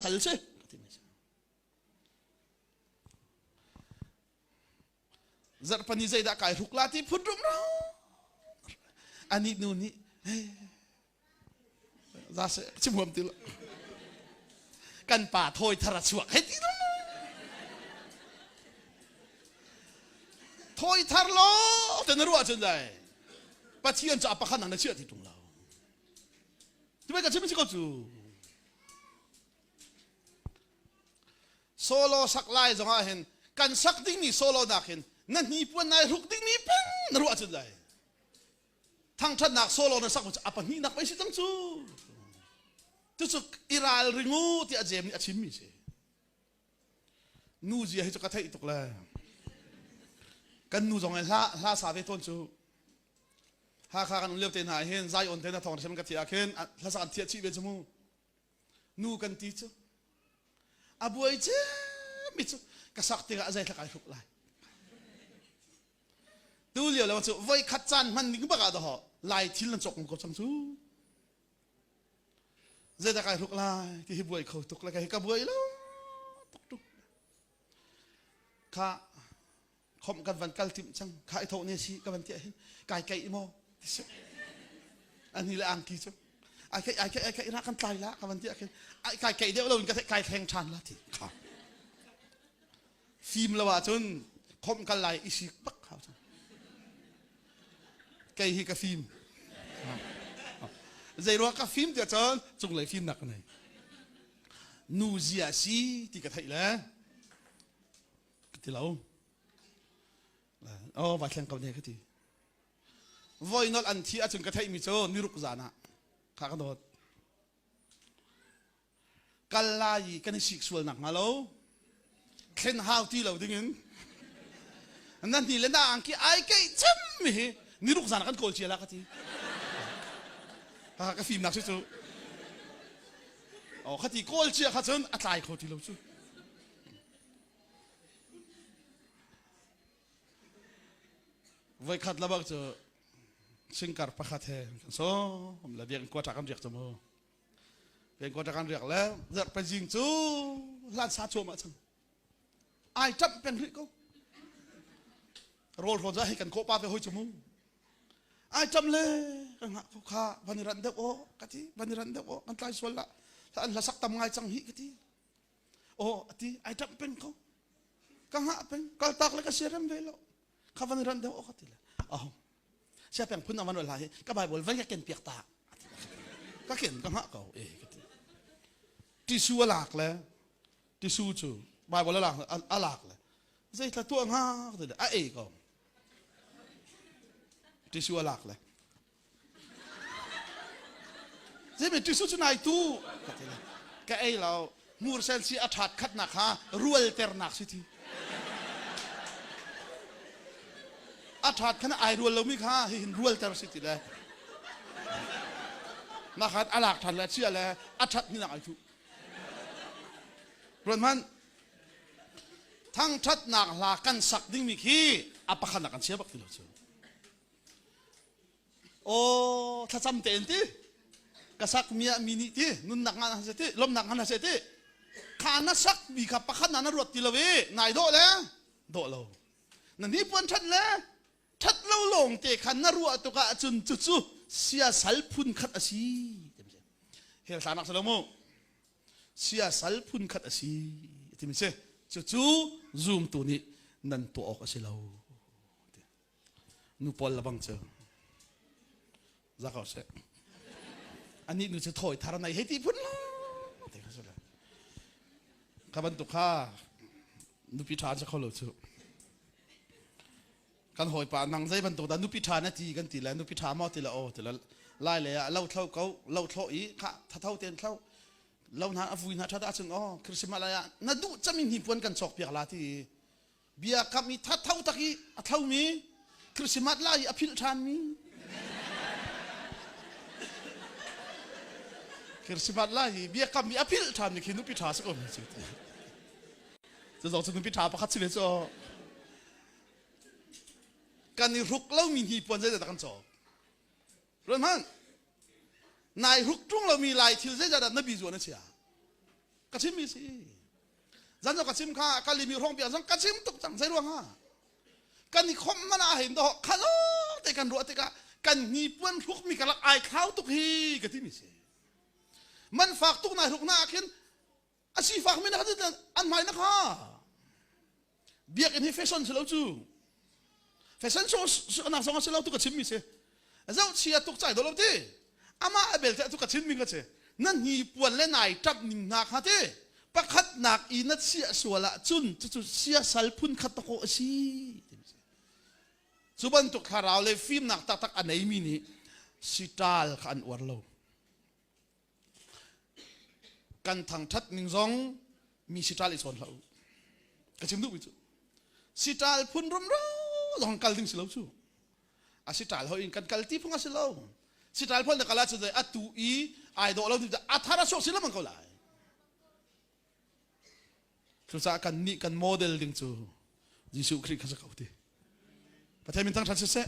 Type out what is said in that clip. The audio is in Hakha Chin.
hal si ka ti mai zarhpani zeidah kai hruk la ti phun rum ro ani nu nih za se chim huam ti lo kan pa thawi thara chuak hei ti lo thawi thar lo te na ruah chun dai pathian cha pakhan nang na chia ti tung lo ti bai ka chim chi ko chu Solo sak lai zongah hin kan sak dingmi solo nak hin na hnipuan nai ruk dingmi pen na ruah cun lai thangthatnak solo na sak cu a pahnih nak pei si cang cu cucu i ral ring u tiah jem nih a chimmi si nu zia hi cu ka theih tuk le kan nu zong in hla hla sa ve tawn cu hakha kan um lio te hna hin zion te na thawng hrem ka thiah khin hla sa kan thiah chih ve cu mu nu kan ti cu a buai ce mi cu ka sak te a zei thlak ai hruk lai tu lio le cu voi khat caan hman ning bak ah daho lai thil nan cok ko chang cu Zeidah kai hruk lai ti hi buai kho tuk le ka buai lo tuk tuk. Kha khom kan van kal tim cang kha i thoh ne si ka van tiah hin kai kai maw ti si ani le angki cu ai kai ai kai ai kai na kan tlai la ka van tiah khin ai kai kai deuh lo in ka kai thleng than la ti kha fim lo ahcun khawmh kal lai i sik bak hau cang kei hi ka fim zeiruang ka fim tiah cun cunglei fimnak ka nei nu zia si ti ka theih le ka ti lo o vai thleng ko ne ka ti voi nol an thi ahcun ka theihmi cu niruk zan ah kha ka dawt kal lai i kan i sik sual nakhnga lo thlen hau ti lo dingin nan ni le na angki ai keih cemmi hi ni ruk zan kan kawl cia la ka ti ha ka fim nak cu o khati kawl cia kha cun a tlai kho ti lo cu voi khat la bak cu singkar pakhat he kan so la deng kwa ta kan riak chu mu Pengkawt kan riak le zarh pezing cu hlansa cuam ah cang. Ai ṭap peng rih ko. Rawl hlawn za hi kan kawpa te hoi cu mu. Ai ṭam le kan ngah ko kha van i ran deuh aw ka ti van i ran deuh aw kan tlai sual lah an hlasak tam ngai cang hi ka ti aw ati ai ṭap pen ko ka ngah pen kaltak le ka siarem ve lo kha van ran deuh ok ti le oh sia peng phun awan la hi ka bible vai ka ken piak ta ka ken ka ngah ko eh ka ti tisu a lak le tisu cu bible a lak a lak le zei tla tua ngak ti le a e ko tisu a lak le Zeimi tisu cu nai tu ka ti ka ei lo mursen si a ṭhat khatnak kha rualternak si ti a ṭhat khana ai rual lomi kha hihin rualter si ti le na khat a lak ṭhan le chia le a ṭhat ni nak ai thu ruan hman thangṭhatnak hla kan sak dingmi khi a pakhat nak kan chia bak ti lo cu Aw thlacam tein ti ka sak mi ah mi nih ti nunnak ngan ah seh ti lawmnak ngan ah seh ti kha na sak mi kha pakhat na na ruat ti lo i ngai dawh le dawh lo na hnipuan ṭhat le ṭhat lo lawng te khan na ruah tuk ah cun cucu sia sal phun khat a si timi si hel tla nak si lo mu sia sal phun khat a si timi si cucu zumtu nih nan tuah awk a si lo Nu pawl lebang cu za ko seh. Anih nu cu thawi thar nai hei ti phun lo. Ti ka sule. Ka bantuk kha nupi ṭha cu kho lo cu. Kan hawipa nang zei bantuk dah nupi ṭha na ti kan ti le nupi ṭha maw ti le aw ti le lai le ah lo thlo ko lo thlo i kha thatho ten thlo lo na avui na ṭha da chung aw Christmas lai ah na duh chami hnipuan kan chawk piak la ti bia kam i thatho tak i a thomi Christmas lai i a philh ṭhanmi Christmas lai hi bia kam i a philh ṭhanmi khi nupi ṭha si ko mi si cuzong cu nupi ṭha pakhat si ve cu kan i ruk lomi hi puan zeidah kan cawk run hmanh nai ruk ṭung lomi lai thil zeidah dah na bi zuwa na chia ka chimmi si zan ka chim kha ka limi rong bia zang ka chim tuk cang sai ruang ha kan i khom mana hin do khalo te kan ruah tikah kan ni puan thluk mi kalak ai khau tuk hi ka ti mi se man fak tuk na ruk na khin asi fak mi na an mai na kha biakinn hi fashion si lo cu fashion show anak zong a si lo tu ka chim mi si zoh chia tuk cai dolo ti amah a belte tu ka chim mi ka si nan hi puan le nai ṭap ning hna kha ti pakhat nak i na sia sual ah cun cucu sia sal phun khat tako a si cu bantuk thlarau le fimnak taktak a nei mi nih sital kha an uar lo kan thangthat ning zong mi sitral i chawn hlah u ka chim duh mi cu sitral phun rumro zong kal ding si lo cu a sitral ho in kan kal ti phung a si lo sitral phol na kala cu dai atu i ai do lo ti a thara sok si lo mang ko lai cucaah kan nih kan model ding cu Jesuh Khrih kha sa ko ti Pathian min thang than siseh